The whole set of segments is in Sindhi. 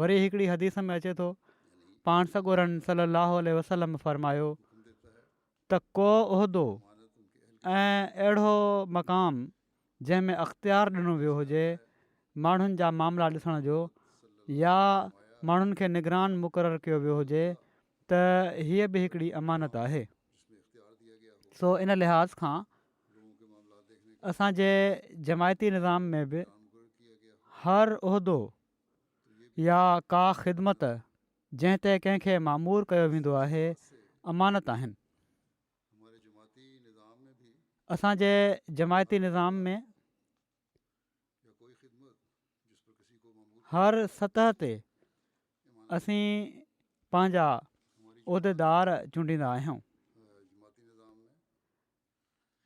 وري هڪڙي حديث ۾ اچي ٿو، پاڻ سڳورن صلّي اللّٰه عليه وسلّم فرمايو ته ڪو عهدو ۽ اهڙو مقام جنهن ۾ اختيار ڏنو ويو هجي ماڻهن جا معاملا ڏسڻ جو يا ماڻهن کي نگران مقرر ڪيو ويو هجي ته هيء به هڪڙي امانت آهي سو ان لحاظ کان اسان جي جماعتي نظام ۾ به هر عهدو يا ڪا خدمت جنهن تي ڪنهن کي معمور ڪيو ويندو آهي امانت آهن اسان جي جماعتي نظام ۾ هر سطح تي اسين پنهنجا عهديدار چونڊيندا آهيون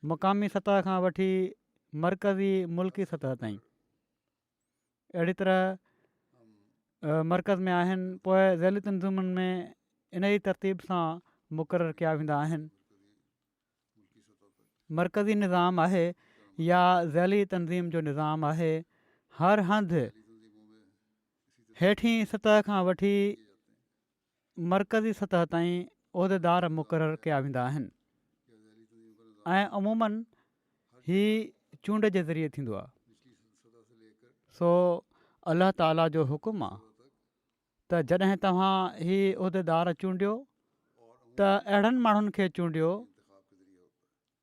مقامي سطح کان وٺي مرڪزي ملڪي سطح تائين اهڙي طرح مرڪز ۾ آهن پوء ذيلي تنظيمن ۾ ان ئي ترتيب سان مقرر ڪيا ويندا آهن مرڪزي نظام آهي يا ذيلي تنظيم جو نظام آهي هر هنڌ هيٺين سطح کان وٺي مرڪزي سطح تائين عهديدار مقرر ڪيا ويندا آهن ۽ عمومن هي چونڊ جي ذريعي ٿيندو آهي سو الله تعالي جو حڪم آهي ته جڏهن توهان هي عهديدار چونڊيو ته اهڙن ماڻهن کي چونڊيو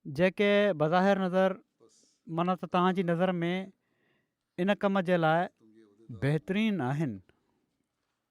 جيڪي بظاهر نظر من ته توهان جي نظر ۾ ان ڪم جي لاء بهترين آهن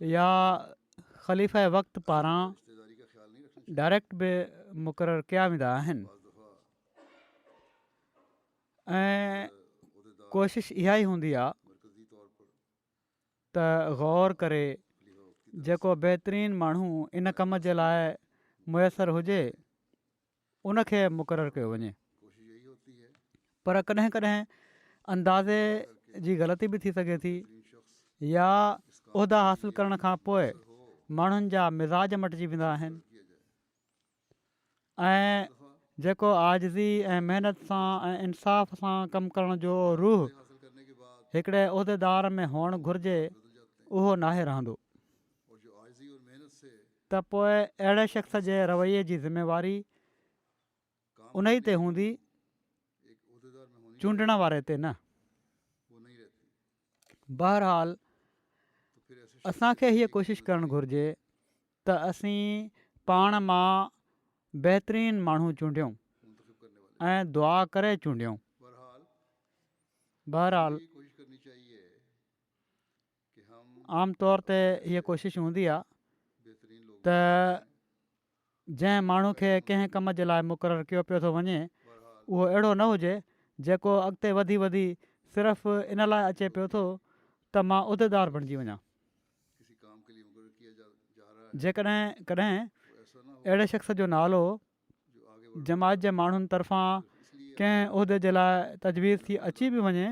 يا خليفه وقت پاران ڊائريڪٽ به مقرر ڪيا ويندا آهن ۽ ڪوشش اها ئي هوندي آهي ته غور ڪري جيڪو بهترين ماڻهو ان ڪم جي لاء ميسر هجي ان کي مقرر ڪيو وڃي پر ڪڏهن ڪڏهن اندازي جي غلطي به ٿي سگهي ٿي يا عهدا حاصل ڪرڻ کان پوء ماڻهن جا مزاج مٽجي ويندا آهن ۽ جيڪو آجزي ۽ محنت سان ۽ انصاف سان ڪم ڪرڻ جو روح هڪڙي عهديدار ۾ هئڻ گهرجي اهو ناهي رهندو ته پوء اهڙي شخص جي رويي جي ذميواري انهي تي هوندي چونڊڻ واري تي نه. بهرحال اسان کي هيء ڪوشش ڪرڻ گهرجي ته اسين پاڻ مان بهترين ماڻهو چونڊيون ۽ دعا ڪري چونڊيون. بهرحال. عام طور تي هيء ڪوشش هوندي آهي ته جنهن ماڻهو کي ڪنهن ڪم جي لاء مقرر ڪيو پيو ٿو وڃي اهو اهڙو نه هجي جيڪو اڳتي وڌي وڌي صرف ان لاء اچي پيو ٿو ته مان عهديدار بڻجي وڃان. جيڪڏهن ڪڏهن اهڙي شخص جو نالو جماعت جي ماڻهن طرفان ڪنهن عهدي جي لاء تجويز ٿي اچي به وڃي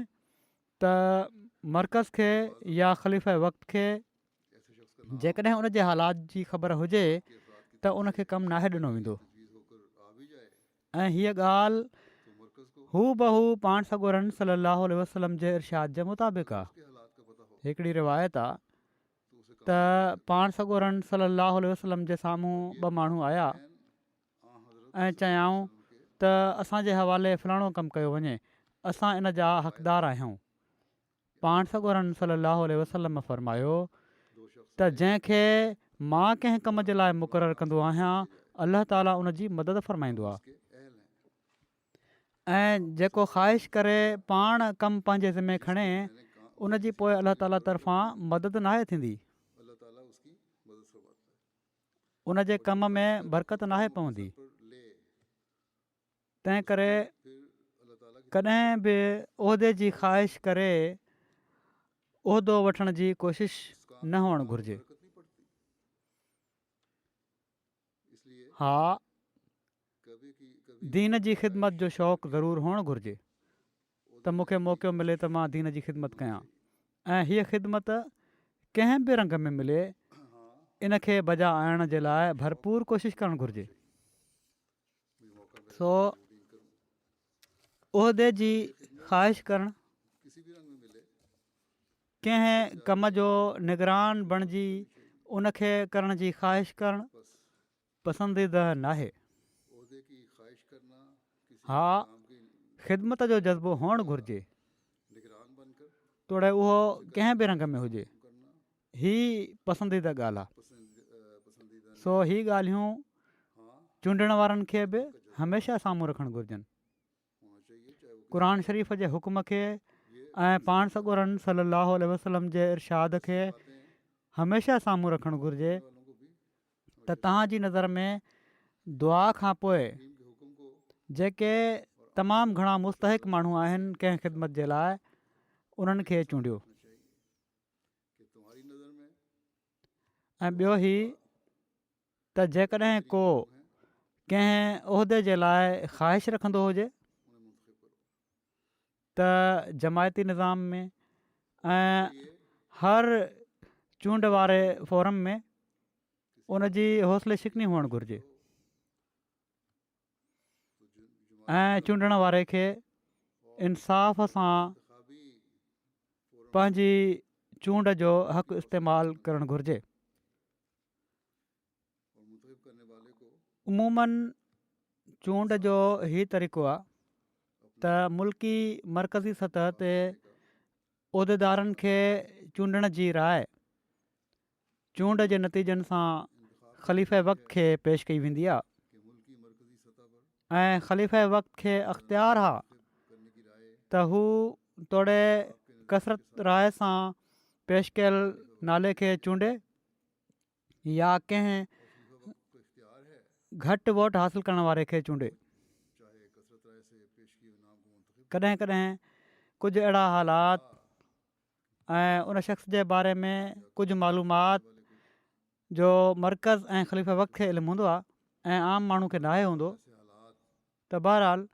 ته مرڪز کي يا خليفه وقت کي جيڪڏهن ان جي حالات جي خبر هجي ته ان کي ڪم ناهي ڏنو ويندو ۽ هيء ڳالهه هو بهو پاڻ سڳورن صلي الله عليه وسلم جي ارشاد جي مطابق آهي هڪڙي روايت آ ته پاڻ سڳورن صلي الله عليه وسلم جي سامهون ٻه ماڻهو آيا ۽ چيائون ته اسان جي حوالي فلاڻو ڪم ڪيو وڃي، اسان ان جا حقدار آهيون. پاڻ سڳورن صلي الله عليه وسلم فرمايو ته جنهن کي مان ڪنهن ڪم جي لاء مقرر ڪندو آهيان الله تعالي ان جي مدد فرمائيندو آهي ۽ جيڪو خواهش ڪري پاڻ ڪم پنهنجي ذمي کڻي ان جي پوء الله تعالي طرفان مدد ناهي ٿيندي. ان جي ڪم ۾ برڪت ناهي پوندي تنهن ڪري ڪڏهن به عهدي جي خواهش ڪري عهدو وٺڻ جي ڪوشش نه هئڻ گهرجي ها دين جي خدمت جو شوق ضرور هئڻ گهرجي ته مون کي موقعو ملي ته مان دين جي خدمت ڪيان ۽ هيء خدمت ڪنهن به رنگ ۾ ملي ان کي بجا آڻڻ جي لاء ڀرپور ڪوشش ڪرڻ گهرجي سو عهدي جي خواهش ڪرڻ ڪنهن ڪم جو نگران بڻجي ان کي ڪرڻ جي خواهش ڪرڻ پسنديده ناهي. ها، خدمت جو جذبو هئڻ گهرجي، توڙي اهو ڪنهن به رنگ ۾ هجي. هي پسنديده ڳالهه آ. سو هي ڳالهيون چونڊڻ وارن کي به هميشه سامهون رکڻ گهرجن. قرآن شريف جي حڪم کي ۽ پاڻ سڳورن صلي الله عليه وسلم جي ارشاد کي هميشه سامهون رکڻ گهرجي ته توهان جي نظر ۾ دعا کان پوء جيڪي تمام گهڻا مستحق ماڻهو آهن ڪنهن خدمت جي لاء انهن کي چونڊيو ۽ ٻيو هي ته جيڪڏهن ڪو ڪنهن عهدي جي لاء خواهش رکندو هجي ته جماعتي نظام ۾ ۽ هر چونڊ واري فورم ۾ ان جي حوصلي شڪني هئڻ گهرجي ۽ چونڊڻ واري کي انصاف سان پنهنجي چونڊ جو حق استعمال ڪرڻ گهرجي عموماً چونڊ جو هي طريقو آهي ته ملڪي مرڪزي سطح تي عهديدارن کي چونڊڻ جي راء چونڊ جي نتيجن سان خليفه وقت کي پيش ڪئي ويندي آهي ۽ خليف وقت کي اختيار آهي ته هو توڙي ڪثرت راء سان پيش ڪيل نالي کي چونڊي يا ڪنهن گهٽ ووٽ حاصل ڪرڻ واري کي چونڊي. ڪڏهن ڪڏهن ڪجهه اهڙا حالات ۽ ان شخص جي باري ۾ ڪجهه معلومات جو مرڪز ۽ خليفه وقت کي علم هوندو آهي ۽ عام ماڻهو کي ناهي هوندو ته بهرحال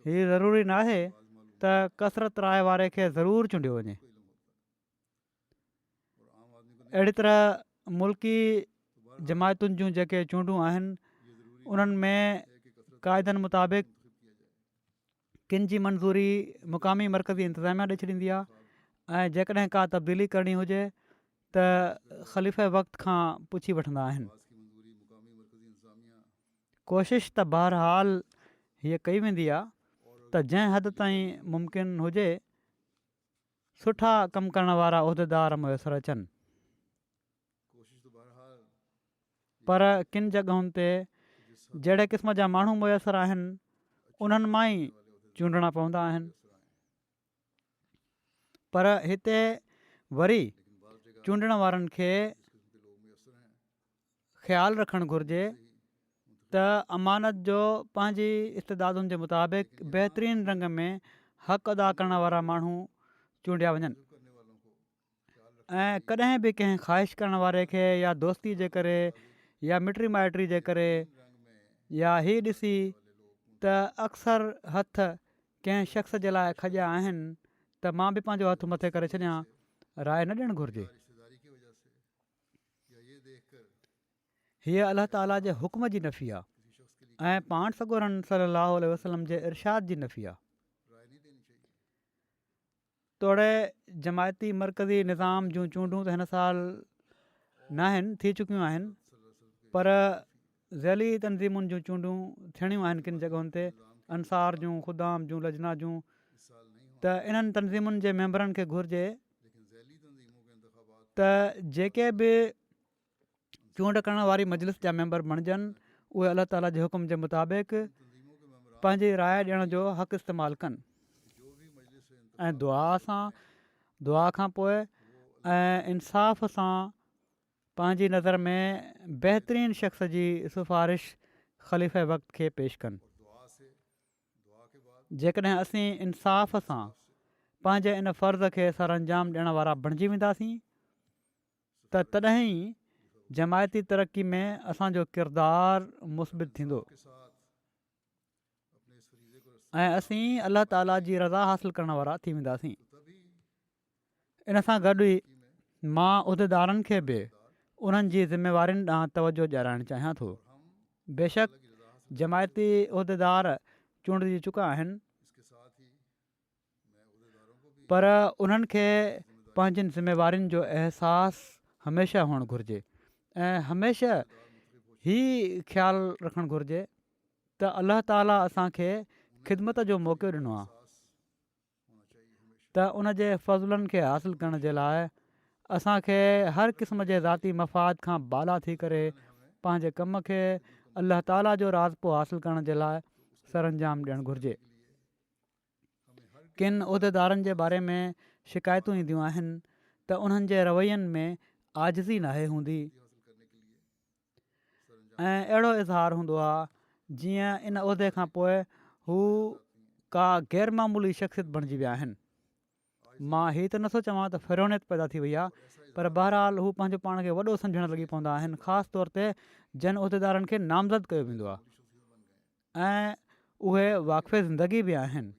هي ضروري ناهي ته ڪثرت راء واري کي ضرور چونڊيو وڃي. اهڙي طرح ملڪي جماعتن جون جيڪي چونڊون آهن انهن ۾ قاعدن مطابق ڪن جي منظوري مقامي مرڪزي انتظاميا ڏئي ڇڏيندي آهي ۽ جيڪڏهن ڪا تبديلي ڪرڻي هجي ته خليف وقت کان پڇي وٺندا آهن ڪوشش ته بهرحال هيء ڪئي ويندي آهي ته جنهن حد تائين ممڪن هجي سٺا ڪم ڪرڻ وارا عهديدار ميسر اچن پر ڪن جڳهن تي جهڙي قسم جا ماڻهو ميسر آهن انهن مان ئي چونڊڻا پوندا آهن پر هتي وري چونڊڻ وارن کي خيال رکڻ گهرجي ته امانت جو پنهنجي استعدادن جي مطابق بهترين رنگ ۾ حق ادا ڪرڻ وارا ماڻهو چونڊيا وڃن ۽ ڪڏهن به ڪنهن خواهش ڪرڻ واري کي يا دوستي جي ڪري يا مٽري مائٽري جي ڪري يا هي ڏسي ته اڪثر هٿ ڪنهن شخص جي لاء کڄيا آهن ته مان به پنهنجو هٿ مٿي ڪري ڇڏيان راء نه ڏيڻ گهرجي هيء الله تعاليٰ جي حڪم جي نفي آهي ۽ پاڻ سڳورن صلّي اللّٰه عليه وسلّم جي ارشاد جي نفي آهي. توڙي جماعتي مرڪزي نظام جون چونڊون ته هن سال ناهن ٿي چڪيون آهن پر ضلعي تنظيمن جون چونڊون ٿيڻيون آهن ڪن جڳهن تي انصار جون خدام جون لجنا جون ته انهن تنظيمن جي ميمبرن کي گهرجي ته جيڪي به چونڊ ڪرڻ واري مجلس جا ميمبر بڻجن اهي الله تعالا جي حڪم جي مطابق پنهنجي راء ڏيڻ جو حق استعمال ڪن ۽ دعا سان دعا کان پوء انصاف سان پنهنجي نظر ۾ بهترين شخص جي سفارش خليفه وقت کي پيش ڪن. جيڪڏهن اسين انصاف سان پنهنجي ان فرض کي سرانجام ڏيڻ وارا بڻجي وينداسين ته تڏهن ئي جماعتي ترقي ۾ اسان جو ڪردار مثبت ٿيندو. ۽ اسين الله تعاليٰ جي رضا حاصل ڪرڻ وارا ٿي وينداسين ان سان گڏ ئي مان عهديدارن کي به انهن جي ذميوارين ڏانهن توجهه ڏيارائڻ چاهيان ٿو بيشڪ جماعتي عهديدار چونڊجي چڪا آهن پر انهن کي پنهنجين ذميوارين جو احساس هميشه هئڻ گهرجي ۽ هميشه هي خيال رکڻ گهرجي ته الله تعالي اسان کي خدمت جو موقعو ڏنو آهي ته ان جي فضلن کي حاصل ڪرڻ جي لاء اسان کي هر قسم جي ذاتي مفاد کان بالا ٿي ڪري پنهنجي ڪم کي الله تعالي جو راضپو حاصل ڪرڻ جي لاء سرانجام ڏيڻ گهرجي ڪن عهديدارن جي باري ۾ شڪايتون اينديون آهن ته انهن جي روين ۾ عاجزي ناهي هوندي ۽ اهڙو اظهار هوندو آهي جيئن ان عهدي کانپوء هو ڪا غيرمعمولي شخصيت بڻجي ويا آهن مان هي ته نٿو چوان ته فرعونيت پيدا ٿي وئي آهي پر بهرحال هو پنهنجو پاڻ کي وڏو سمجهڻ لڳي پوندا آهن خاص طور تي جن عهديدارن کي نامزد ڪيو ويندو آهي ۽ اهي واقفي زندگي به آهن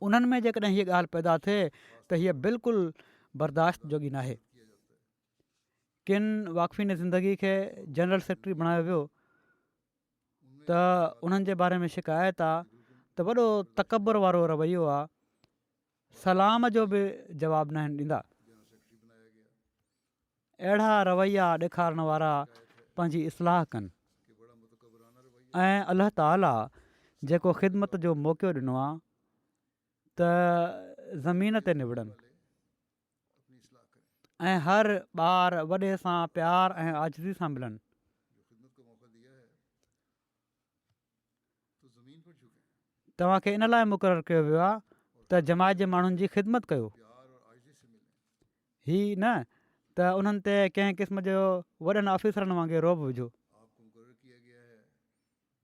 انهن ۾ جيڪڏهن هيء ڳالهه پيدا ٿئي ته هيء بلڪل برداشت جوڳي ناهي ڪن واقفين زندگي کي جنرل سيڪريٽري بڻايو ويو ته انهن جي باري ۾ شڪايت آ ته وڏو تڪبر وارو رويو آ سلام جو به جواب ناهن ڏيندا اهڙا رويا ڏيکارڻ وارا پنهنجي اصلاح ڪن ۽ الله تعالي جيڪو خدمت جو موقعو ڏنو آ ته زمين تي نبڙن ۽ هر ٻار وڏي سان پيار ۽ عاجزي سان ملن. توهان کي ان لاء مقرر ڪيو ويو آهي ته جماعت جي ماڻهن جي خدمت ڪيو هي نه ته انهن تي ڪنهن قسم جو وڏن آفيسرن وانگي روب وجهو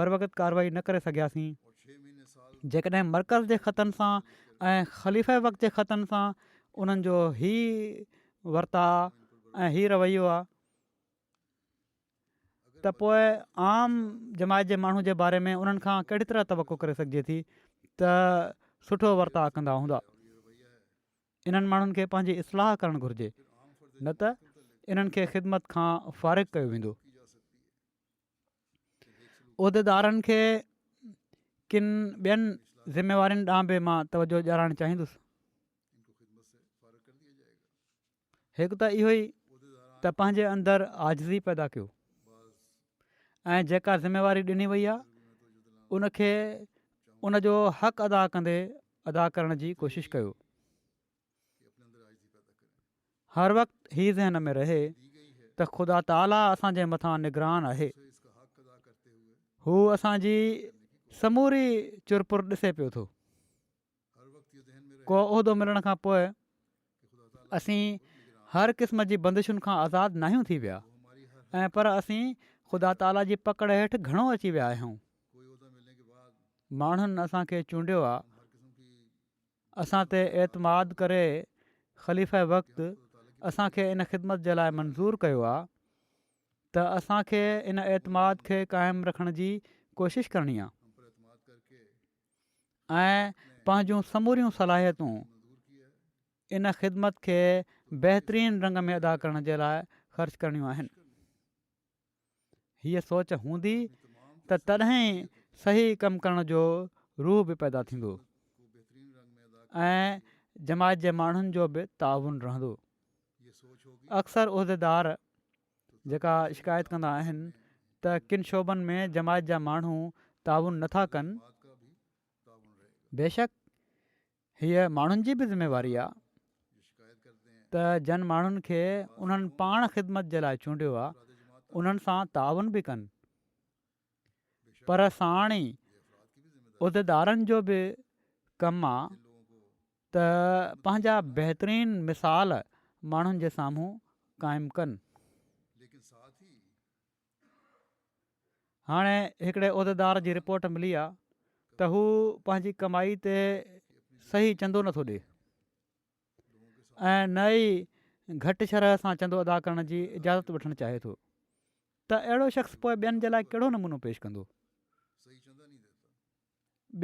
بروقت ڪارروائي نه ڪري سگهياسين جيڪڏهن مرڪز جي خطن سان ۽ خليفه وقت جي خطن سان انهن جو هي ورتاء ۽ هي رويو آهي ته پوء عام جماعت جي ماڻهو جي باري ۾ انهن کان ڪهڙي طرح توقع ڪري سگهجي ٿي ته سٺو ورتاء ڪندا هوندا انهن ماڻهن کي پنهنجي اصلاح ڪرڻ گهرجي نه ته انهن کي خدمت کان فارغ ڪيو ويندو عهديدارن کي ڪن ٻين ذميوارين ڏانهن به مان توجهه ڏيارڻ چاهيندس هڪ ته اهو ئي ته پنهنجي اندر آجزي پيدا ڪيو ۽ جيڪا ذميواري ڏني وئي آهي ان کي ان جو حق ادا ڪندي ادا ڪرڻ جي ڪوشش ڪيو هر وقت هي ذهن ۾ رهي ته خدا تعاليٰ اسان جي مٿان نگران آهي هو اسان جي سموري چرپر ڏسي پيو ٿو ڪو عهدو ملڻ کان پوء اسين هر قسم جي بندشن کان آزاد ناهيون ٿي ويا ۽ پر اسين خدا تعاليٰ جي پڪڙ هيٺ گهڻو اچي ويا آهيون ماڻهن اسان کي چونڊيو آهي اسان تي اعتماد ڪري خليفه وقت اسان کي ان خدمت جي لاء منظور ڪيو آهي ته اسان کي ان اعتماد کي قائم رکڻ جي ڪوشش ڪرڻي آهي ۽ پنهنجون سموريون صلاحيتون ان خدمت کي بهترين رنگ ۾ ادا ڪرڻ جي لاء خرچ ڪرڻيون آهن هيء سوچ هوندي ته تڏهن صحيح ڪم ڪرڻ جو روح به پيدا ٿيندو ۽ جماعت جي ماڻهن جو به تعاون رهندو اڪثر عهديدار جيڪا شڪايت ڪندا آهن ته ڪن شعبن ۾ جماعت جا ماڻهو تعاون نٿا ڪن بيشڪ هيء ماڻهن جي به ذميواري آهي ته جن ماڻهن کي انهن پاڻ خدمت جي لاء چونڊيو آهي انهن سان تعاون به ڪن پر ساڻ ئي عهديدارن جو به ڪم آهي ته پنهنجا بهترين مثال ماڻهن جي سامهون قائم ڪن هاڻي هڪڙي عهديدار جي رپورٽ ملي آهي ته هو پنهنجي ڪمائي تي صحيح چندو نٿو ڏي ۽ نه ئي گهٽ شرح سان چندو ادا ڪرڻ جي اجازت وٺڻ چاهي ٿو ته اهڙو شخص پوء ٻين جي لاء ڪهڙو نمونو پيش ڪندو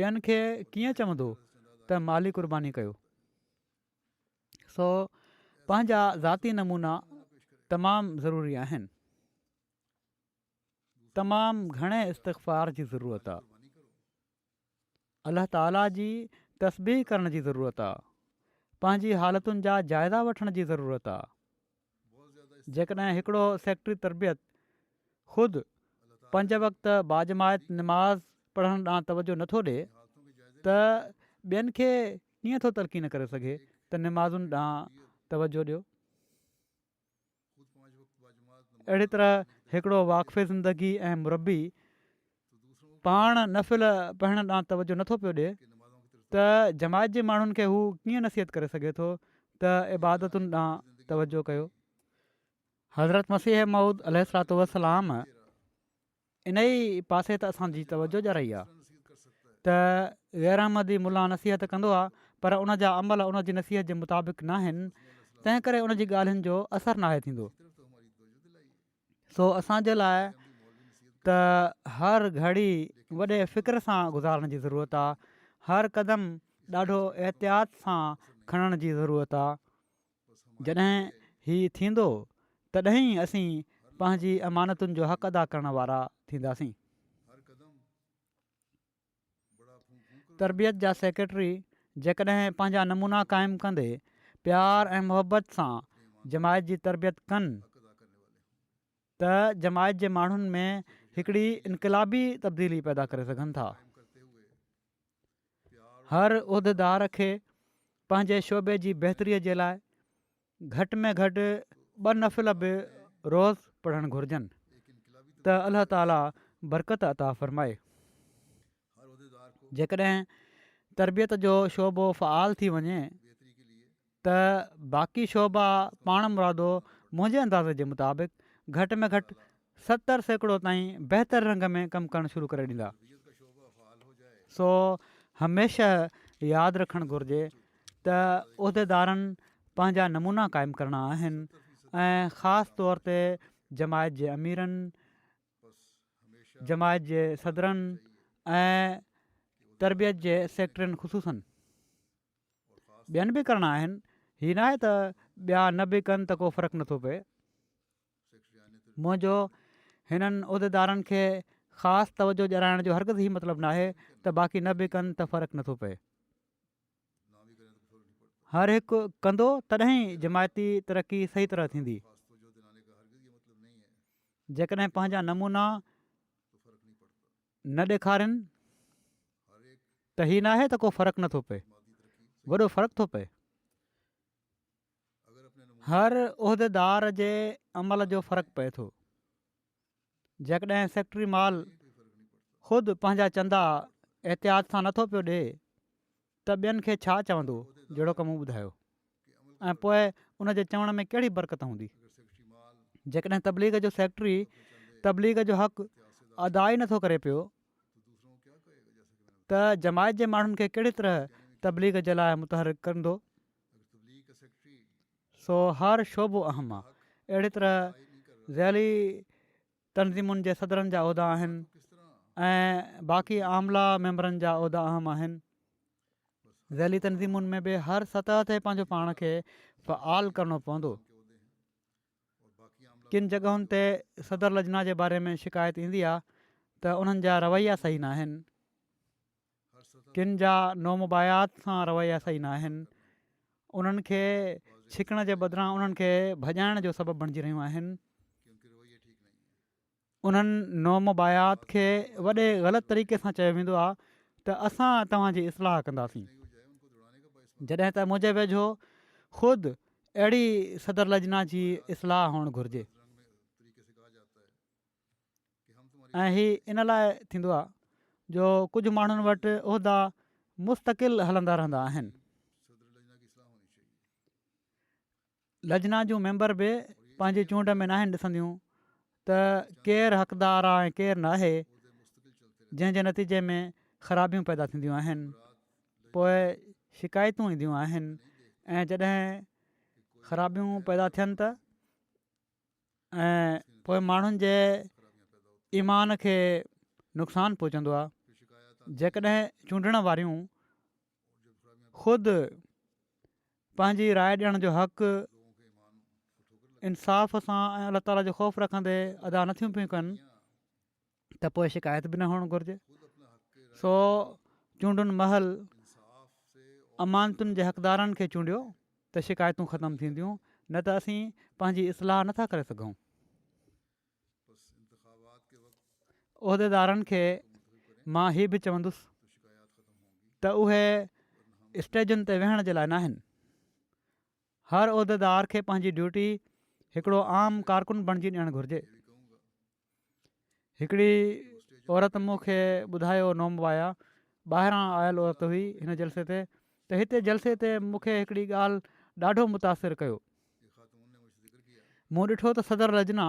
ٻين کي ڪيئن چوندو ته مالي قرباني ڪيو سو پنهنجا ذاتي نمونا تمام ضروري آهن تمام گهڻي استغفار جي ضرورت آهي الله تعالي جي تسبيح ڪرڻ جي ضرورت آهي پنهنجي حالتن جا جائزا وٺڻ جي ضرورت آهي جيڪڏهن هڪڙو سيڪريٽري تربيت خود پنج وقت باجماعت نماز پڙهڻ ڏانهن توجهه نٿو ڏي ته ٻين کي ڪيئن ٿو تلقين ڪري سگهي ته نمازن ڏانهن توجهه ڏيو. اهڙي طرح هڪڙو واقف زندگي ۽ مربي پاڻ نفل پڙهڻ ڏانهن توجهه نه ٿو پيو ڏي ته جماعت جي ماڻهن کي هو ڪيئن نصيحت ڪري سگهي ٿو ته عبادتن ڏانهن توجهه ڪيو. حضرت مسيح موعود عليه الصلات والسلام انهي پاسي ته اسان جي توجهه ڄرائي آهي ته غير احمدي ملا نصيحت ڪندو آهي پر ان جا عمل ان جي نصيحت جي مطابق ناهن تنهن ڪري ان جي ڳالهين جو اثر ناهي ٿيندو. سو اسان جي لاء ته هر گهڙي وڏي فڪر سان گذارڻ جي ضرورت آ هر قدم ڏاڍو احتياط سان کڻڻ جي ضرورت آ جڏهن هي ٿيندو تڏهن ئي اسين پنهنجي امانتن جو حق ادا ڪرڻ وارا ٿينداسين تربيت جا سيڪريٽري جيڪڏهن پنهنجا نمونا قائم ڪندي پيار ۽ محبت سان جماعت جي تربيت ڪن ته جماعت جي ماڻهن ۾ هڪڙي انقلابي تبديلي پيدا ڪري سگهن ٿا هر عهديدار کي پنهنجي شعبي جي بهتري جي لاء گهٽ ۾ گهٽ ٻه نفل به روز پڙهڻ گهرجن ته الله تعالي برڪت عطا فرمائي جيڪڏهن تربيت جو شعبو فعال ٿي وڃي ته باقي شعبا پاڻ مرادو منهنجي اندازي جي مطابق گهٽ ۾ گهٽ ستر سيڪڙو تائين بهتر رنگ ۾ ڪم ڪرڻ شروع ڪري ڏيندا سو هميشه ياد رکڻ گهرجي ته عهديدارن پنهنجا نمونا قائم ڪرڻا آهن ۽ خاص طور تي جماعت جي اميرن جماعت جي صدرن ۽ تربيت جي سيڪريٽرين خصوصن ٻين به ڪرڻا آهن هي ناهي ته ٻيا نه به ڪن ته ڪو فرق نٿو پئي منهنجو هنن عهديدارن کي خاص توجهه ڏيارائڻ جو هرگز هي مطلب ناهي ته باقي نه به ڪن ته فرق نٿو پئي. هر هڪ ڪندو تڏهن ئي جماعتي ترقي صحيح طرح ٿيندي. جيڪڏهن پنهنجا نمونا نه ڏيکارين ته هي ناهي ته ڪو فرق نٿو پئي وڏو فرق ٿو پئي. هر عهديدار جي عمل جو فرق پئي ٿو جيڪڏهن سيڪريٽري مال خود پنهنجا چندا احتياط سان نٿو پيو ڏي ته ٻين کي ڇا چوندو جهڙو ڪم ٻڌايو ۽ پوء ان جي چوڻ ۾ ڪهڙي برڪت هوندي جيڪڏهن تبليغ جو سيڪريٽري تبليغ جو حق ادا ئي نٿو ڪري پيو ته جماعت جي ماڻهن کي ڪهڙي طرح تبليغ جي لاء متحرڪ ڪندو سو هر شعبو اهم آ. اهڙي طرح ضلعي تنظيمن جي صدرن جا عهدا آهن ۽ باقي عاملا ميمبرن جا عهدا اهم آهن. ضلعي تنظيمن ۾ به هر سطح تي پنهنجو پاڻ کي فعال ڪرڻو پوندو. ڪن جڳهن تي صدر لجنا جي باري ۾ شڪايت ايندي آ ته انهن جا رويا صحيح ناهن. ڪن جا نومبايات سان رويا صحيح نه آهن، انهن کي ڇڪڻ جي بدران انهن کي ڀڄائڻ جو سبب بڻجي رهيون آهن. انهن نومبايات کي وڏي غلط طريقي سان چيو ويندو آهي ته اسان توهان جي اصلاح ڪنداسين، جڏهن ته منهنجي ويجهو خود اهڙي صدر لجنا جي اصلاح هئڻ گهرجي. ۽ هي ان لاء ٿيندو آهي جو ڪجهه ماڻهن وٽ عهدا مستقل هلندا رهندا آهن. لجنا جون ميمبر به پنهنجي چونڊ ۾ ناهن ڏسنديون ته ڪير حقدار آهي ۽ ڪير نه آهي جنهن جي نتيجي ۾ خرابيون پيدا ٿينديون آهن پوء شڪايتون اينديون آهن ۽ جڏهن خرابيون پيدا ٿين ته ۽ پوء ماڻهن جي ايمان کي نقصان پهچندو آهي جيڪڏهن چونڊڻ واريون خود پنهنجي راء ڏيڻ جو حق انصاف سان ۽ الله تعالا جو خوف رکندي ادا نٿيون پيون ڪن ته پوء شڪايت به نه هئڻ گهرجي سو چونڊن مهل امانتن جي حقدارن کي چونڊيو ته شڪايتون ختم ٿينديون نه ته اسين پنهنجي اصلاح نٿا ڪري سگهون عهديدارن کي مان هي به چوندس ته اهي اسٽيجن تي ويهڻ جي لاء نه آهن هر عهديدار کي پنهنجي ڊيوٽي هڪڙو عام ڪارڪن بڻجي ڏيڻ گهرجي هڪڙي عورت مون کي ٻڌايو، نومبايا ٻاهران آيل عورت هئي هن جلسي تي، ته هتي جلسي تي مون کي هڪڙي ڳالهه ڏاڍو متاثر ڪيو. مون ڏٺو ته صدر لجنا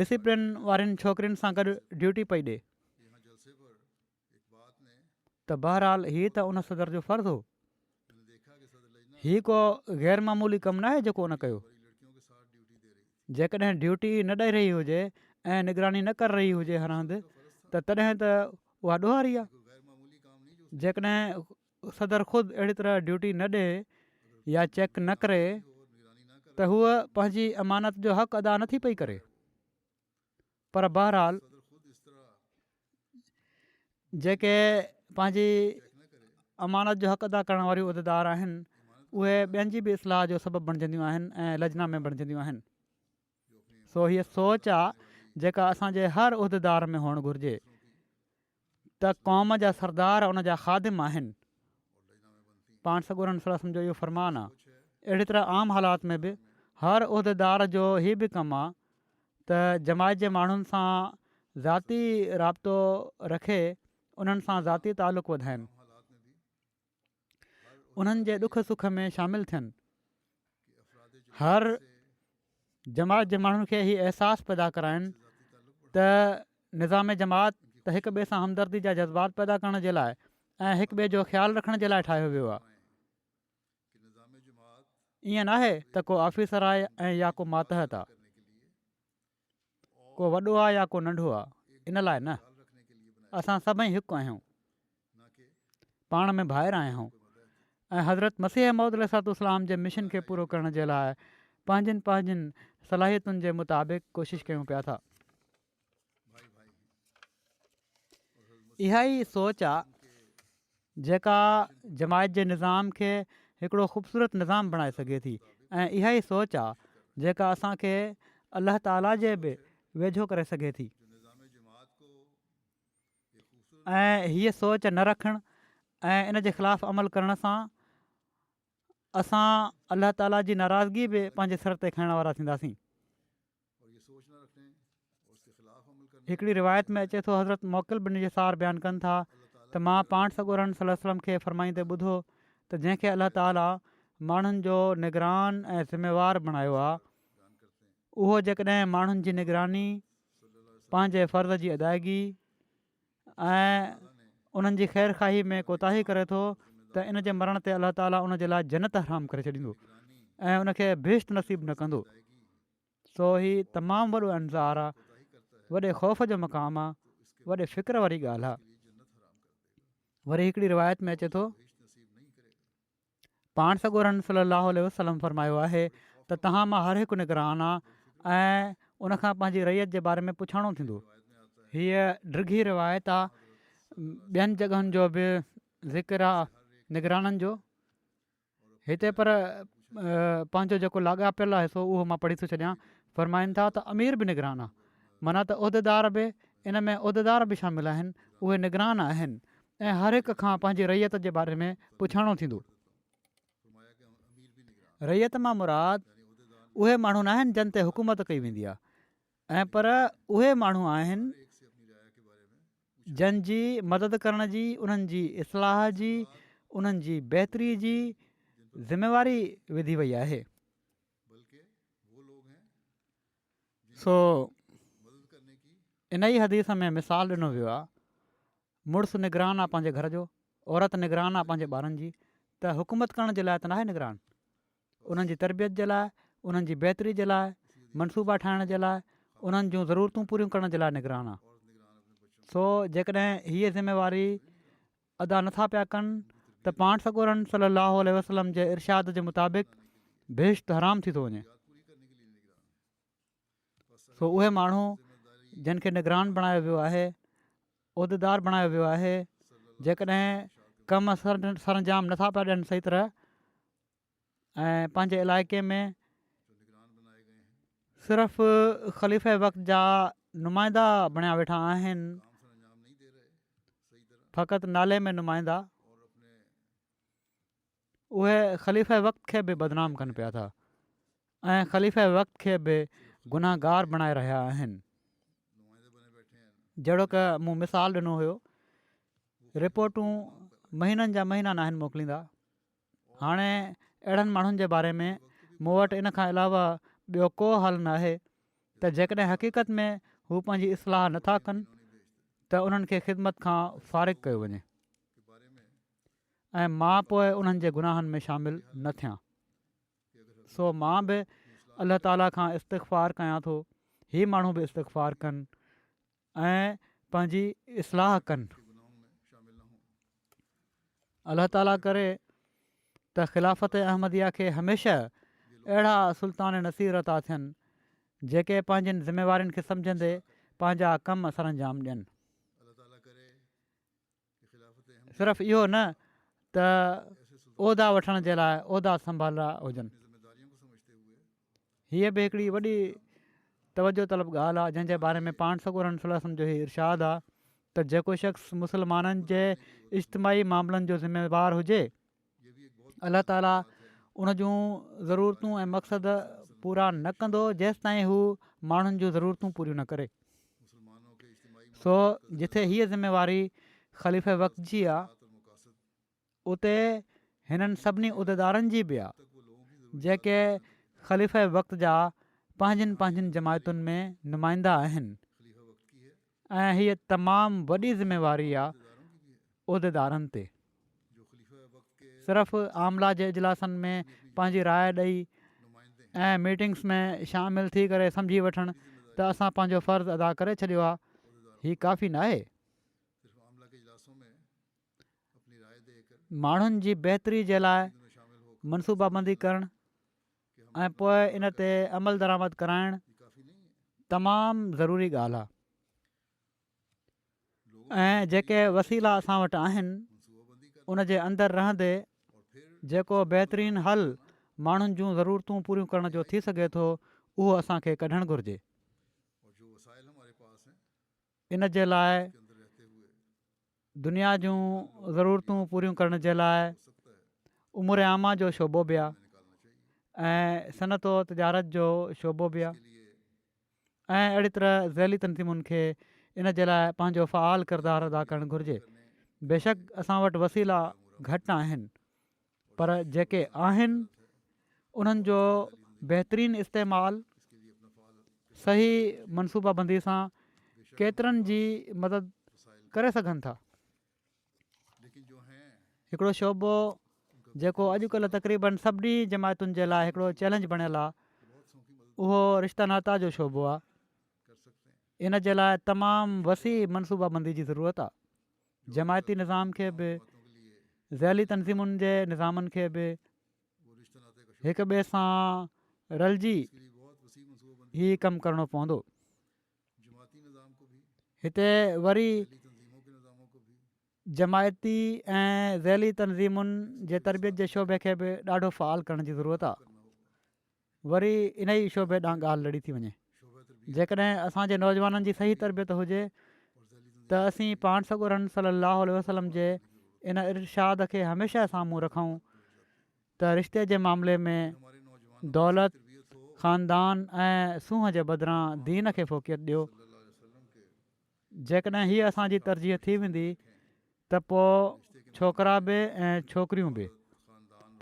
ڊسيپلن وارين ڇوڪرين سان گڏ ڊيوٽي پئي ڏي. ته بهرحال هي ته ان صدر جو فرض هو. هي ڪو غير معمولي ڪم ناهي جيڪو ان ڪيو. جيڪڏهن ڊيوٽي نه ڏئي رهي هجي ۽ نگراني نه ڪر رهي هجي هر هنڌ ته تڏهن ته اها ڏوهاري آهي. جيڪڏهن صدر خود اهڙي طرح ڊيوٽي نه ڏئي يا چيڪ نه ڪري ته هوء پنهنجي امانت جو حق ادا نه ٿي پئي ڪري. پر بهرحال جيڪي پنهنجي امانت جو حق ادا ڪرڻ واريون عددار آهن اهي ٻين جي به اصلاح جو سبب بڻجنديون آهن ۽ لجنا ۾ بڻجنديون آهن سو هيء سوچ آهي جيڪا اسان جي هر عددار ۾ هئڻ گهرجي ته قوم جا سردار ان جا خادم آهن. پاڻ سڳورن صلي الله وسلم جو اهو فرمان آ. اهڙي طرح عام حالات ۾ به هر عهديدار جو هي به ڪم آ ته جماعت جي ماڻهن سان ذاتي رابطو رکي انهن سان ذاتي تعلق وڌائين. انهن جي ڏک سک ۾ شامل ٿين هر جماعت جي ماڻهن کي هي احساس پيدا ڪرائين ته نظام جماعت ته هڪ ٻئي سان همدردي جا جذبات پيدا ڪرڻ جي لاء ۽ هڪ ٻئي جو خيال رکڻ جي لاء ٺاهيو ويو آهي ائين ناهي ته ڪو آفيسر آهي ۽ يا ڪو ماتحت آهي ڪو وڏو آ يا ڪو ننڍو آ ان لاء نه اسان سڀئي هڪ آهيون پاڻ ۾ ڀائر آهيون ۽ حضرت مسيح محمد عليه صاحب اسلام جي مشن کي پورو ڪرڻ جي لاء پنهنجين پنهنجين صلاحيتن جي مطابق ڪوشش ڪيون پيا ٿا اها ئي سوچ آ جيڪا جماعت جي نظام کي هڪڙو خوبصورت نظام بڻائي سگهي ٿي ۽ اها ئي سوچ آ جيڪا اسان کي الله تعالي جي به ويجهو ڪري سگهي ٿي ۽ هيء سوچ نه رکڻ ۽ ان جي خلاف عمل ڪرڻ سان اسان الله تعالي جي ناراضگي به پنهنجي سر تي کڻڻ وارا ٿينداسين. هڪڙي روايت ۾ اچي ٿو حضرت معقل بن يسار بيان ڪن ٿا ته مان پاڻ سڳورن صلي وسلم کي فرمائيندي ٻڌو ته جنهن کي الله تعالي ماڻهن جو نگران ۽ ذميوار بڻايو آ اهو جيڪڏهن ماڻهن جي نگراني پنهنجي فرض جي ادائگي ۽ انهن جي خير خواهي ۾ ڪوتاهي ڪري ٿو ته ان جي مرڻ تي الله تعالي ان جي لاء جنت حرام ڪري ڇڏيندو ۽ ان کي بهشت نصيب نه ڪندو سو هي تمام وڏو انظار آ، وڏي خوف جو مقام آ، وڏي فڪر واري ڳالهه آ. وري هڪڙي روايت ۾ اچي ٿو، پاڻ سڳورن صلي الله عليه وسلم فرمايو آهي ته توهان مان هر هڪ نگران آ ۽ ان کان پنهنجي رعيت جي باري ۾ پڇاڻو ٿيندو. هيء ڊگهي روايت آ، ٻين جڳهن جو به ذڪر آ نگرانن جو. هتي پر پنهنجو جيڪو لاڳاپيل آهي سو اهو مان پڙهي ٿو ڇڏيان فرمائن ٿا ته امير به نگران آهي منا ته عهديدار به ان ۾ عهديدار به شامل آهن اهي نگران آهن ۽ هر هڪ کان پنهنجي رعيت جي باري ۾ پڇاڻو ٿيندو رعيت مان مراد اهي ماڻهو ناهن جن تي حڪومت ڪئي ويندي آهي ۽ پر اهي ماڻهو آهن جن جي مدد ڪرڻ جي، انهن جي اصلاح جي، انهن جي بهتري جي ذميواري وڌي وئي آهي. سو انهيء حديث ۾ مثال ڏنو ويو آهي، مڙس نگران آهي پنهنجي گهر جو، عورت نگران آهي پنهنجي ٻارن جي، ته حڪومت ڪرڻ جي لاء ته ناهي نگران. انهن جي تربيت جي لاء، انهن جي بهتري جي لاء، منصوبا ٺاهڻ جي لاء، انهن جون ضرورتون پوريون ڪرڻ جي لاء نگران آ. سو جيڪڏهن هيء ذميواري ادا نٿا پيا ڪن ته پاڻ سڳورن صلّي اللّٰه عليه وسلّم جي ارشاد جي مطابق بهشت حرام ٿي ٿو وڃي. سو اهي ماڻهو جن کي نگران بڻايو ويو آهي، عهديدار بڻايو ويو آهي، جيڪڏهن ڪم سرانجام نٿا پيا ڏين صحيح طرح، ۽ پنهنجي علائقي ۾ صرف خليفه وقت جا نمائندا بڻيا ويٺا آهن فقط نالي ۾ نمائندا اهي خليفه وقت کي به بدنام ڪن پيا ٿا ۽ خليفه وقت کي به گناهگار بڻائي رهيا آهن جهڙو ڪه مون مثال ڏنو هيو رپورٽون مهينن جا مهينا ناهن موڪليندا هاڻي اهڙن ماڻهن جي باري ۾ مون وٽ ان کان علاوه ٻيو ڪو حل نه آهي ته جيڪڏهن حقيقت ۾ هو پنهنجي اصلاح نٿا ڪن ته انهن کي خدمت کان فارغ ڪيو وڃي ۽ مان پوء انهن جي گناهن ۾ شامل نه ٿيان سو مان به الله تعاليٰ کان استغفار ڪيان ٿو هي ماڻهو به استغفار ڪن ۽ پنهنجي اصلاح ڪن. الله تعالي ڪري ته خلافت احمديه کي هميشه اهڙا سلطان نصير عطا ٿين جيڪي پنهنجين ذميوارين کي سمجهندي پنهنجا ڪم سرانجام ڏين. صرف اهو نه ته عهدا وٺڻ جي لاء عهدا سنڀالرا هجن هيء به هڪڙي وڏي توجه طلب ڳالهه آهي جنهن جي باري ۾ پاڻ سڳو رحمت صلي وسلم جو هي ارشاد آهي ته جيڪو شخص مسلمانن جي اجتماعي معاملن جو ذميوار هجي الله تعاليٰ ان جون ضرورتون ۽ مقصد پورا نه ڪندو جيستائين هو ماڻهن جون ضرورتون پوريون نه ڪري سو جتي هيء ذميواري خليفه وقت جي آ اتي هنن سڀني عهديدارن جي به آ جيڪي خليفه وقت جا پنهنجين پنهنجين جماعتن ۾ نمائندا آهن ۽ هيء تمام وڏي ذميواري آ عهديدارن تي صرف عاملا جي اجلاسن ۾ پنهنجي راء ڏئي ۽ ميٽنگس ۾ شامل ٿي ڪري سمجهي وٺڻ ته اسان پنهنجو فرض ادا ڪري ڇڏيو آ هي ڪافي ناهي ماڻهن جي بهتري جي لاء منصوبابندي ڪرڻ ۽ پوء ان تي عملدرآمد ڪرائڻ تمام ضروري ڳالهه آهي ۽ جيڪي وسيلا اسان وٽ آهن ان جي اندر رهندي جيڪو بهترين حل ماڻهن جون ضرورتون پوريون ڪرڻ جو ٿي سگهي ٿو اهو اسان کي ڪڍڻ گهرجي. ان جي لاء دنيا جون ضرورتون پوريون ڪرڻ جي لاء امور عامه جو شعبو به آهي ۽ صنعت و تجارت جو شعبو به آهي ۽ اهڙي طرح ذيلي تنظيمن کي ان جي لاء پنهنجو فعال ڪردار ادا ڪرڻ گهرجي بيشڪ اسان وٽ وسيلا گهٽ آهن پر جيڪي آهن انهن جو بهترين استعمال صحيح منصوبه بندي سان ڪيترن جي مدد ڪري سگهن ٿا هڪڙو شعبو جيڪو اڄڪلهه تقريبن سڀني جماعتن جي لاء هڪڙو چيلنج بڻيل آ اهو رشته ناتا جو شعبو آ ان جي لاء تمام وسيع منصوبه بندي جي ضرورت آ جماعتي نظام کي به ذيلي تنظيمن جي نظامن کي به هڪ ٻئي سان رلجي هي ڪم ڪرڻو پوندو هتي وري جماعتي ۽ ذيلي تنظيمن جي تربيت جي شعبي کي به ڏاڍو فعال ڪرڻ جي ضرورت آهي وري انهي ئي شعبي ڏانهن ڳالهه لڙي ٿي وڃي. جيڪڏهن اسان جي نوجوانن جي صحيح تربيت هجي ته اسين پاڻ سڳورن صلي الله عليه وسلم جي ان ارشاد کي هميشه سامهون رکون ته رشتي جي معاملي ۾ دولت، خاندان ۽ سونهن جي بدران دين کي فوقيت ڏيو. جيڪڏهن هيء اسان جي ترجيح ٿي ويندي ته پوء ڇوڪرا به ۽ ڇوڪريون به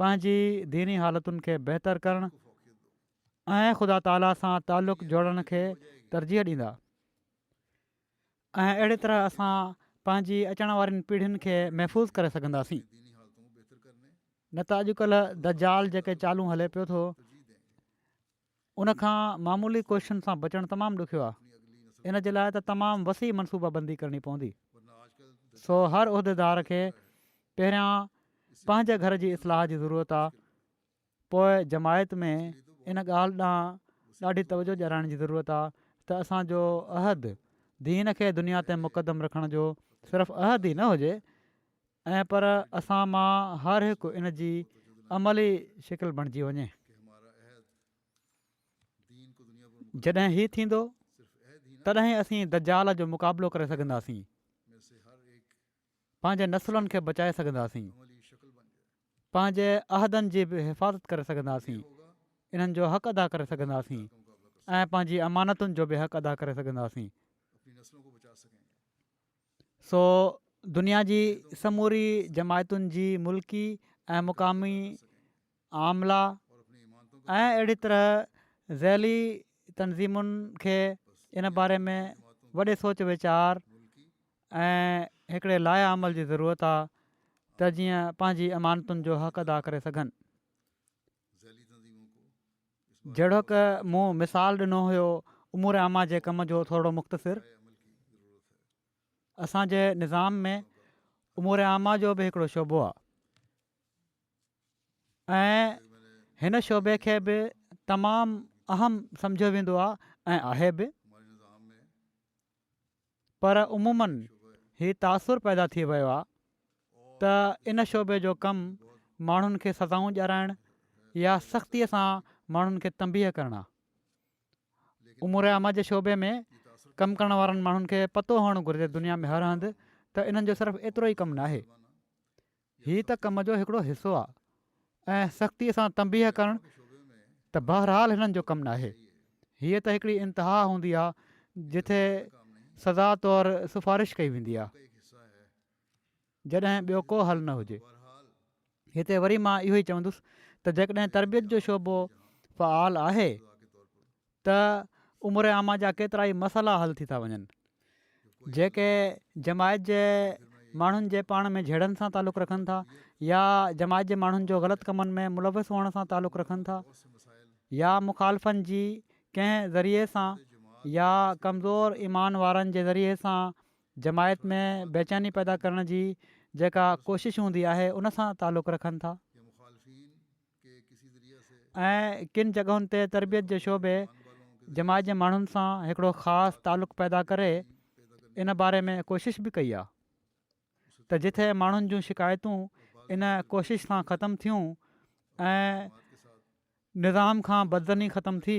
پنهنجي ديني حالتن کي بهتر ڪرڻ ۽ خدا تعاليٰ سان تعلق جوڙڻ کي ترجيح ڏيندا ۽ اهڙي طرح اسان پنهنجي اچڻ وارين پيڙهين کي محفوظ ڪري سگهنداسين نه ته اڄڪلهه دجال جيڪي چالون هلي پيو ٿو ان کان معمولي ڪوششن سان بچڻ تمام ڏکيو آهي. ان جي لاء ته تمام وسيع منصوبه بندي ڪرڻي پوندي. سو هر عهديدار کي پهريان پنهنجي گهر جي اصلاح جي ضرورت آهي. پوء جماعت ۾ ان ڳالهه ڏانهن ڏاڍي توجهه ڏيارائڻ جي ضرورت آهي ته اسان جو عهد دين کي دنيا تي مقدم رکڻ جو صرف عهد ئي نه هجي ۽ پر اسان مان هر هڪ ان جي عملي شڪل بڻجي وڃي. جڏهن هي ٿيندو تڏهن اسين دجال جو مقابلو ڪري سگهنداسين. پنهنجي نسلن کي بچائي سگهنداسين. پنهنجي عهدن جي به حفاظت ڪري سگهنداسين. انهن جو حق ادا ڪري سگهنداسين ۽ پنهنجي امانتن جو به حق ادا ڪري سگهنداسين. سو دنيا جي سموري جماعتن جي ملڪي ۽ مقامي عاملا ۽ اهڙي طرح ذيلي تنظيمن کي ان باري ۾ وڏي سوچ ويچار ۽ هڪڙي لائحه عمل جي ضرورت آهي ته جيئن پنهنجي امانتن جو حق ادا ڪري سگهن. جهڙوڪ مون مثال ڏنو هيو امور عامه جي ڪم جو ٿورڙو مختصر اسان جي نظام ۾ امور عامه جو به هڪڙو شعبو آهي ۽ هن شعبي کي به تمام اهم سمجهيو ويندو آهي ۽ آهي به پر عمومن هي تاثر پيدا ٿي ويو آ ته ان شعبي جو ڪم ماڻهن کي سزائون ڄارائڻ يا سختي سان ماڻهن کي تنبيهه ڪرڻ آ. امور عامه جي شعبي ۾ ڪم ڪرڻ وارن ماڻهن کي پتو هئڻ گهرجي دنيا ۾ هر هنڌ ته انهن جو صرف ايترو ئي ڪم ناهي. هي ته ڪم جو هڪڙو حصو آ ۽ سختي سان تنبيهه ڪرڻ ته بهرحال هنن جو ڪم ناهي. هيء ته هڪڙي انتها هوندي آ جتي سزا طور سفارش ڪئي ويندي آ جڏهن ٻيو ڪو حل نه هجي. هتي وري مان اهو ئي چوندس ته جيڪڏهن تربيت جو شعبو فعال آهي ته امور عامه جا ڪيترائي مسئلا حل ٿي ٿا وڃن جيڪي جماعت جي ماڻهن جي پاڻ ۾ جهيڙن سان تعلق رکن ٿا يا جماعت جي ماڻهن جو غلط ڪمن ۾ ملوث هئڻ سان تعلق رکن ٿا يا مخالفن جي ڪنهن ذريعي سان يا ڪمزور ايمان وارن جي ذريعي سان جماعت ۾ بيچاني پيدا ڪرڻ جي جيڪا ڪوشش هوندي آهي ان سان تعلق رکن ٿا ۽ ڪن جڳهن تي تربيت جي شعبي جماعت جي ماڻهن سان هڪڙو خاص تعلق پيدا ڪري ان باري ۾ ڪوشش به ڪئي آهي ته جتي ماڻهن جون شڪايتون ان ڪوشش سان ختم ٿيون ۽ نظام کان بدظني ختم ٿي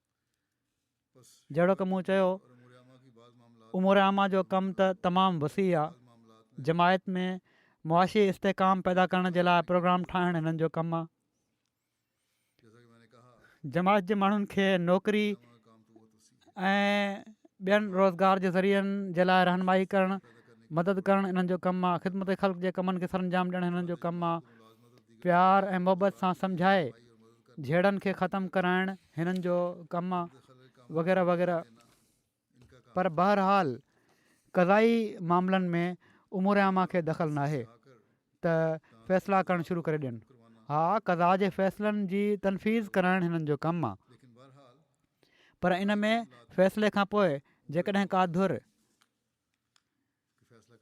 جهڙوڪ مون چيو امور عامه جو ڪم ته تمام وسيع آ جماعت ۾ معاشي استحڪام پيدا ڪرڻ جي لاء پروگرام ٺاهڻ هنن جو ڪم آ جماعت جي ماڻهن کي نوڪري ۽ ٻين روزگار جي ذريعن جي لاء رهنمائي ڪرڻ مدد ڪرڻ انهن جو ڪم آ خدمت خلق جي ڪمن کي سرانجام ڏيڻ هنن جو ڪم آ پيار ۽ محبت سان سمجهائي جهيڙن کي ختم ڪرائڻ هنن جو ڪم وغيره وغيره پر بهرحال قضائي معاملن ۾ امور عامه کي دخل ناهي ته فيصلا ڪرڻ شروع ڪري ڏين ها قضا جي فيصلن جي تنفيذ ڪرائڻ هنن جو ڪم آهي پر ان ۾ فيصلي کان پوء جيڪڏهن ڪا ڌر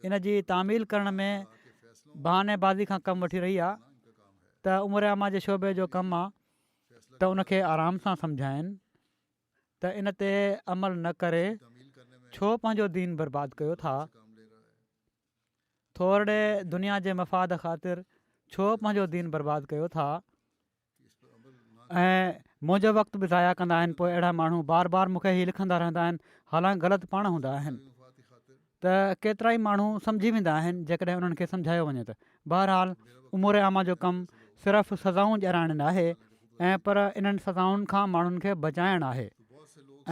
ان جي تعميل ڪرڻ ۾ بهاني بازي کان ڪم وٺي رهي آهي ته عمر عامه جي شعبي جو ڪم آهي ته ان کي آرام سان سمجهائين ته ان تي عمل نه ڪري ڇو پنهنجو دين برباد ڪيو ٿا ٿورڙي دنيا جي مفاد خاطر ڇو پنهنجو دين برباد ڪيو ٿا ۽ منهنجو وقت به ضايع ڪندا آهن پوء اهڙا ماڻهو بار بار مون کي هي لکندا رهندا آهن حالانڪ غلط پاڻ هوندا آهن ته ڪيترائي ماڻهو سمجهي ويندا آهن جيڪڏهن انهن کي سمجهايو وڃي ته بهرحال امور عامه جو ڪم صرف سزائون ڄرائڻ نه آهي ۽ پر انهن سزائن کان ماڻهن کي بچائڻ آهي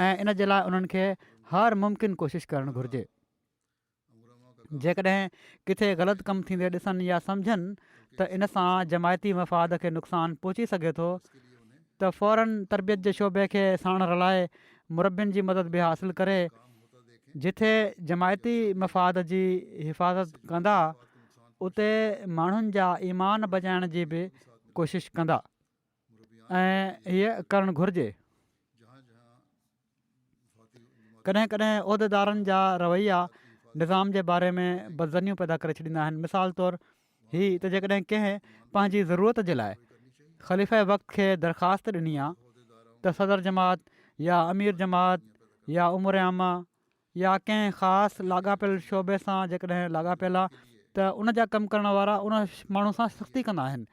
۽ ان جي لاء انهن کي هر ممڪن ڪوشش ڪرڻ گهرجي جيڪڏهن ڪٿي غلط ڪم ٿيندي ڏسن يا سمجهن ته ان سان جماعتي مفاد کي نقصان پهچي سگهي ٿو ته فورن تربيت جي شعبي کي ساڻ رلائي مربين جي مدد به حاصل ڪري جتي جماعتي مفاد جي حفاظت ڪندا اتي ماڻهن جا ايمان بچائڻ جي به ڪوشش ڪندا. ۽ هيء ڪرڻ گهرجي. ڪڏهن ڪڏهن عهديدارن جا رويا نظام جي باري ۾ بدظنيون پيدا ڪري ڇڏيندا آهن. مثال طور هي ته جيڪڏهن ڪنهن پنهنجي ضرورت جي لاء خليفه وقت کي درخواست ڏني آ ته صدر جماعت يا امير جماعت يا امور عامه يا ڪنهن خاص لاڳاپيل شعبي سان جيڪڏهن لاڳاپيل آ ته ان جا ڪم ڪرڻ وارا ان ماڻهو سان سختي ڪندا آهن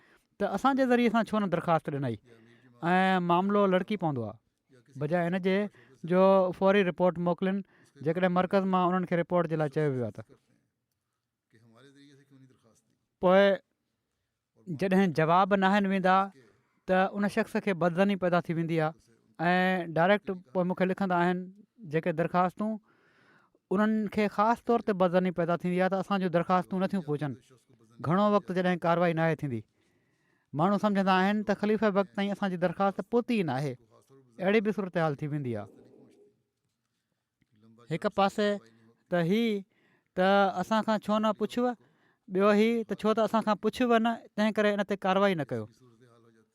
ته اسان جي ذريعي سان ڇو نه درخواست ڏنئي ۽ معاملو لڙڪي پوندو آ بجاء ان جي جو فوري رپورٽ موڪلين جيڪڏهن مرڪز مان انهن کي رپورٽ جي لاء چيو ويو آ ته. پوء جڏهن جواب نه آهن ويندا ته ان شخص کي بدظني پيدا ٿي ويندي آهي ۽ ڊائريڪٽ پوء مون کي لکندا آهن جيڪي درخواستون انهن کي خاص طور تي بدظني پيدا ٿيندي آهي ته اسان جون درخواستون نٿيون پهچن گهڻو وقت جڏهن ڪاروائي ناهي ٿيندي ماڻهو سمجهندا آهن ته خليفي وقت تائين اسانجي درخواست پهتي ئي ناهي اهڙي به صورتحال ٿي ويندي آهي هڪ پاسي ته هي ته اسان کان ڇو نه پڇيو، ٻيو هي ته ڇو ته اسان کان پڇيو نه، تنهن ڪري ان تي ڪارروائي نه ڪيو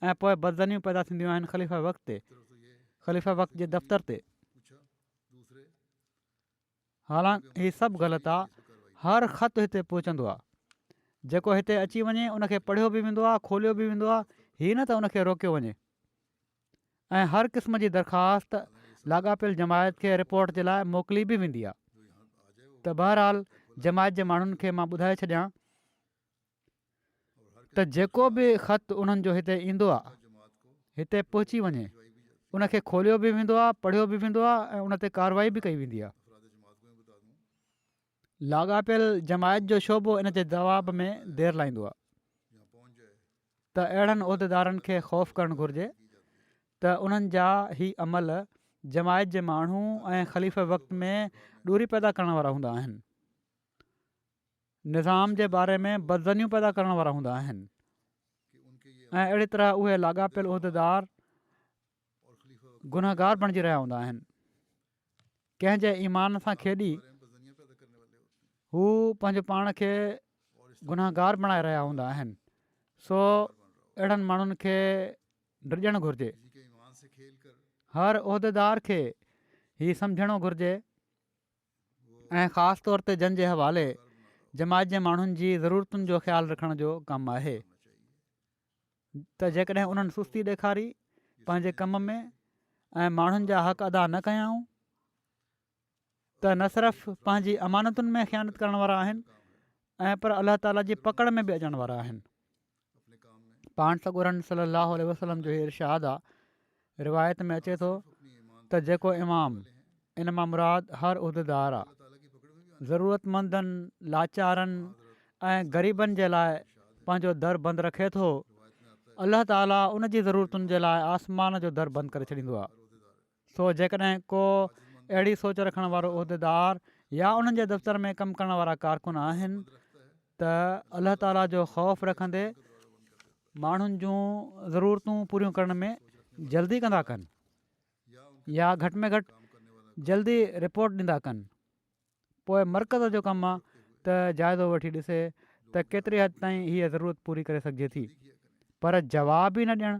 ۽ پوء بدظنيون پيدا ٿينديون آهن خليفه وقت تي، خليفه وقت جي دفتر تي. حالانڪ هي سڀ غلط آ، هر خط هتي پهچندو آ، جيڪو هتي اچي وڃي ان کي پڙهيو به ويندو آ، کوليو به ويندو آ، هي نه ته ان کي روڪيو وڃي. ۽ هر قسم جي درخواست لاڳاپيل جماعت کي رپورٽ جي لاء موڪلي به ويندي آهي ته بهرحال جماعت جي ماڻهن کي مان ٻڌائي ڇڏيان ته جيڪو به خط انهن جو هتي ايندو آهي هتي پهچي وڃي ان کي کوليو به ويندو آهي پڙهيو به ويندو آهي ۽ ان تي ڪارروائي به ڪئي ويندي آهي لاڳاپيل جماعت جو شعبو ان جي جواب ۾ دير لائيندو آهي ته اهڙن عهديدارن کي خوف ڪرڻ گهرجي ته انهن جا هي عمل جماعت جي ماڻهو ۽ خليفه وقت ۾ ڏوري پيدا ڪرڻ وارا هوندا آهن نظام جي باري ۾ بدزنيون پيدا ڪرڻ وارا هوندا آهن ۽ اهڙي طرح اهي لاڳاپيل عهديدار گنهگار بڻجي رهيا هوندا آهن ڪنهن جي ايمان سان کيڏي هو پنهنجو پاڻ کي گنهگار بڻائي رهيا هوندا آهن سو اهڙن ماڻهن کي ڊڄڻ گهرجي هر عهديدار کي هي سمجهڻو گهرجي ۽ خاص طور تي جن جي حوالي جماعت جي ماڻهن جي ضرورتن جو خيال رکڻ جو ڪم آهي ته جيڪڏهن انهن سستي ڏيکاري پنهنجي ڪم ۾ ۽ ماڻهن جا حق ادا نه ڪيائون ته نه صرف پنهنجي امانتن ۾ خيانت ڪرڻ وارا آهن ۽ پر الله تعالا جي پڪڙ ۾ به اچڻ وارا آهن پاڻ سڳورن صلي الله عليه وسلم جو هي ارشاد آ روايت ۾ اچي ٿو ته جيڪو امام، ان مان مراد هر عهديدار آ، ضرورتمندن، لاچارن ۽ غريبن جي لاء پنهنجو در بند رکي ٿو، الله تعاليٰ ان جي ضرورتن جي لاء آسمان جو در بند ڪري ڇڏيندو آ. سو جيڪڏهن ڪو اهڙي سوچ رکڻ وارو عهديدار يا انهن جي دفتر ۾ ڪم ڪرڻ وارا ڪارڪن آهن ته الله تعاليٰ جو خوف رکندي، ماڻهن جون ضرورتون پوريون ڪرڻ ۾ جلدي ڪندا ڪن يا گهٽ ۾ گهٽ جلدي رپورٽ ڏندا ڪن پوء مرڪز جو ڪم آهي ته جائزو وٺي ڏسي ته ڪيتري حد تائين هيء ضرورت پوري ڪري سگهجي ٿي پر جواب ئي نه ڏيڻ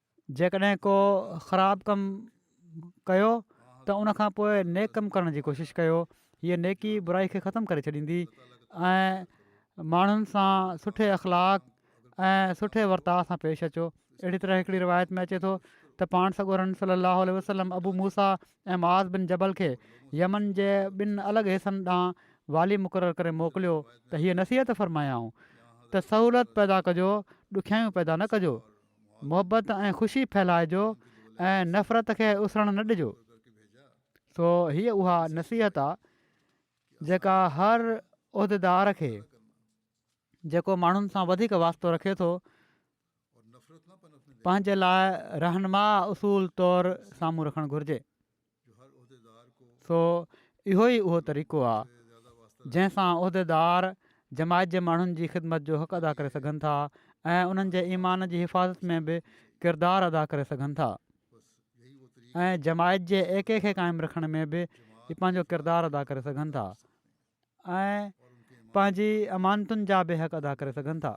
جيڪڏهن ڪو خراب ڪم ڪيو ته ان کان پوء نيڪ ڪم ڪرڻ جي ڪوشش ڪيو هيء نيڪي برائي کي ختم ڪري ڇڏيندي ۽ ماڻهن سان سٺي اخلاق ۽ سٺي ورتاء سان پيش اچو اهڙي طرح هڪڙي روايت ۾ اچي ٿو ته پاڻ سڳورن صلي الله عليه وسلم ابو موسا ۽ معاذ بن جبل کي يمن جي ٻن الڳ حصن ڏانهن والي مقرر ڪري موڪليو ته هيء نصيحت فرمايائون ته سهولت پيدا ڪجو ڏکيائيون پيدا نه ڪجو محبت ۽ خوشي ڦهلائجو ۽ نفرت کي اسرڻ نه ڏجو سو هيء اها نصيحت آ جيڪا هر عهديدار کي جيڪو ماڻهن سان وڌيڪ واسطو رکي ٿو پنهنجي لاء رهنما اصول طور سامهون رکڻ گهرجي سو اهو ئي اهو طريقو آ جنهن سان عهديدار جماعت جي ماڻهن جي خدمت جو حق ادا ڪري سگهن ٿا ۽ انهن جي ايمان جي حفاظت ۾ به ڪردار ادا ڪري سگهن ٿا ۽ جماعت جي ايڪي کي قائم رکڻ ۾ به پنهنجو ڪردار ادا ڪري سگهن ٿا ۽ پنهنجي امانتن جا به حق ادا ڪري سگهن ٿا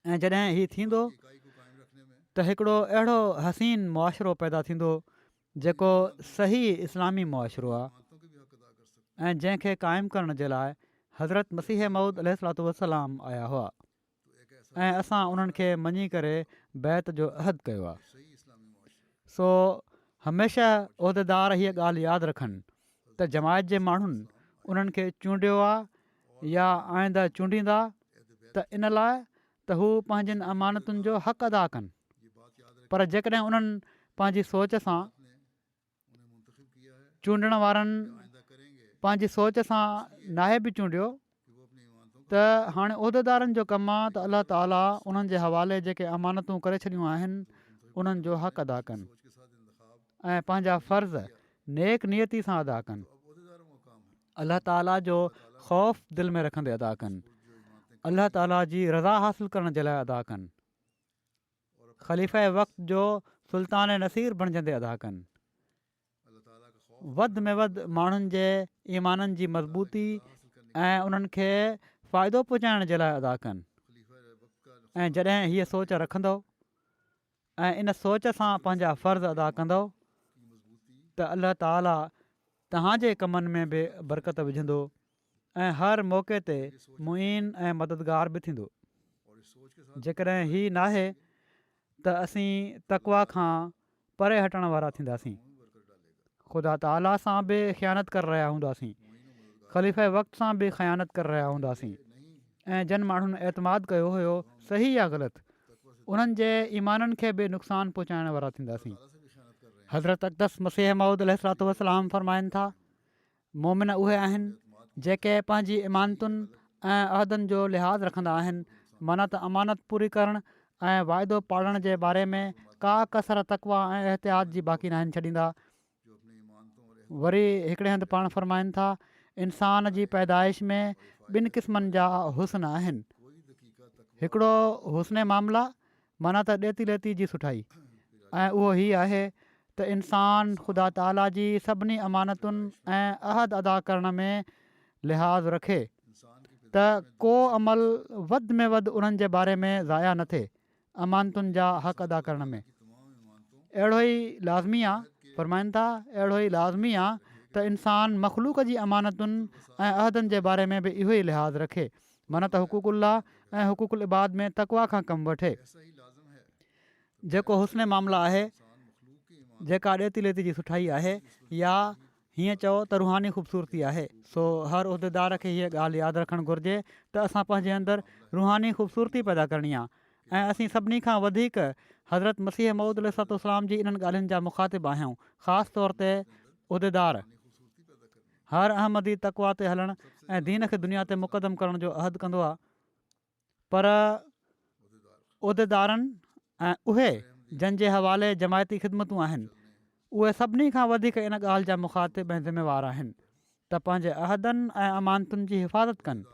۽ جڏهن هي ٿيندو ته هڪڙو اهڙو حسين معاشرو پيدا ٿيندو جيڪو صحيح اسلامي معاشرو آهي ۽ جنهن کي قائم ڪرڻ جي لاء حضرت مسيح مود عليه السلاط والسلام آيا هئا ۽ اسان انهن کي مڃي ڪري بيت جو عہد ڪيو آهي سو هميشه عهديدار هيء ڳالهه ياد رکن ته جماعت جي ماڻهن انهن کي چونڊيو آ يا آئنده چونڊيندا ته ان لاء ته هو پنهنجن امانتن جو حق ادا ڪن پر جيڪڏهن انهن پنهنجي سوچ سان چونڊڻ وارن پنهنجي سوچ سان ناهي به چونڊيو ته هاڻي عهديدارن جو ڪم آ ته الله تعاليٰ انهن جي حوالي جيڪي امانتون ڪري ڇڏيون آهن انهن جو حق ادا ڪن ۽ پنهنجا فرض نيڪ نيتي سان ادا ڪن الله تعاليٰ جو خوف دل ۾ رکندي ادا ڪن الله تعاليٰ جي رضا حاصل ڪرڻ جي لاء ادا ڪن خليفه وقت جو سلطان نصير بڻجندي ادا ڪن وڌ ۾ وڌ ماڻهن جي ايمانن جي مضبوطي ۽ انهن کي فائدو پهچائڻ جي لاء ادا ڪن ۽ جڏهن هيء سوچ رکندو ۽ ان سوچ سان پنهنجا فرض ادا ڪندو ته الله تعاليٰ تهان جي ڪمن ۾ به برڪت وجهندو ۽ هر موقعي تي معين ۽ مددگار به ٿيندو. جيڪڏهن هي ناهي ته اسين تقويٰ کان پري هٽڻ وارا ٿينداسين. خدا تعاليٰ سان به خيانت ڪري رهيا هونداسين. خليفه وقت سان به خيانت ڪري رهيا هونداسين ۽ جن ماڻهن اعتماد ڪيو هيو صحيح يا غلط انهن جي ايمانن کي به نقصان پهچائڻ وارا ٿينداسين. حضرت اقدس مسيح موعود عليه الصلوة والسلام فرمائن ٿا، مؤمن اهي آهن جيڪي پنهنجي امانتن ۽ عهدن جو لحاظ رکندا آهن، معنيٰ ته امانت پوري ڪرڻ ۽ واعدو پاڙڻ جي باري ۾ ڪا ڪسر تقويٰ ۽ احتياط جي باقي ناهن ڇڏيندا. وري هڪڙي هنڌ پاڻ فرمائن ٿا، انسان جي پيدائش ۾ ٻن قسمن جا حسن آهن، هڪڙو حسن معامله معنيٰ ته ڏيتي ليتي جي سٺائي ۽ اهو هي آهي ته انسان خدا تعاليٰ جي سڀني امانتن ۽ عهد ادا ڪرڻ ۾ لحاظ رکي ته ڪو عمل وڌ ۾ وڌ انهن جي باري ۾ ضايع نه ٿئي امانتن جا حق ادا ڪرڻ ۾ اهڙو ئي لازمي آهي فرمائن ٿا اهڙو ئي لازمي آهي ته انسان مخلوق جي امانتن ۽ عهدن جي باري ۾ به اهو ئي لحاظ رکي معنيٰ ته حقوق الله ۽ حقوق العباد ۾ تقويٰ کان ڪم وٺي. جيڪو حسن معاملا آهي، جيڪا ڏيتي ليتي جي سٺائي آهي يا هيئن چئو ته روحاني خوبصورتي آهي سو هر عهديدار کي هيء ڳالهه ياد رکڻ گهرجي ته اسان پنهنجي اندر روحاني خوبصورتي پيدا ڪرڻي آهي ۽ اسين سڀني کان وڌيڪ حضرت مسيح موعود عليه السلام جي انهن ڳالهين جا مخاطب آهيون خاص طور تي عهديدار هر احمدي تقويٰ تي هلڻ ۽ دين کي دنيا تي مقدم ڪرڻ جو عهد ڪندو آهي پر عهديدارن ۽ اهي جن جي حوالي جماعتي خدمتون آهن اهي سڀني کان وڌيڪ ان ڳالهه جا مخاطب ۽ ذميوار آهن ته پنهنجي عهدن ۽ امانتن جي حفاظت ڪن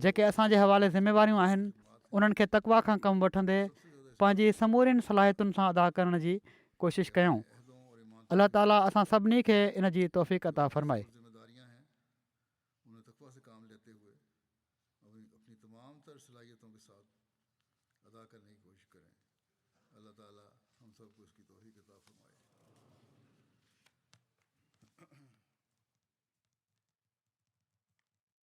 جيڪي اسان جي حوالي ذميواريون آهن انهن کي تقويٰ کان ڪم وٺندي پنهنجي سمورين صلاحيتن سان ادا ڪرڻ جي ڪوشش ڪيون الله تعالي اسان سڀني کي ان جي توفيق عطا فرمائي.